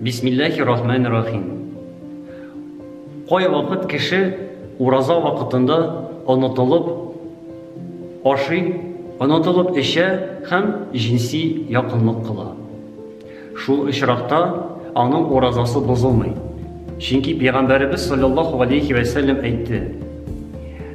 Бисмиллахи рахмани рахим. Кайвакыт кеше ураза вакытында онытылып ашый, онытылып эчә һәм җинси якынлык кыла. Шул очракта аның уразасы бозылмый. Чөнки пәйгамбәребез саллаллаху алейхи вәсәлләм әйтте: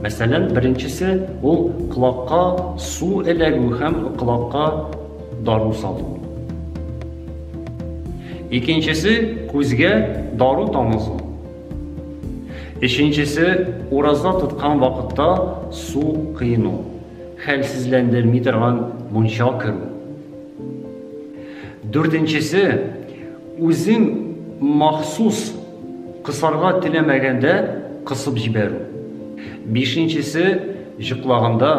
Мәсәлән, беренчесе, ул колакка су эләгү һәм колакка дару салу. Икенчесе, күзгә дару тамызу. Өченчесе, ураза тоткан вакытта су кыйну, хәлсезләндерми торган мунча керү. Дүртенчесе, үзең махсус кысарга теләмәгәндә кысып җибәрү. Бишенчесе, җыклаганда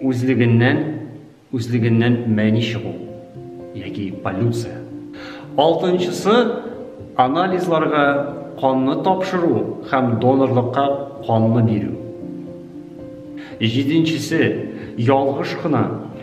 үзлегеннән үзлегеннән мәни чыгу яки полюция. Алтынчысы, анализларга канны тапшыру һәм донорлыкка канны бирү. Җиденчесе, ялгыш кына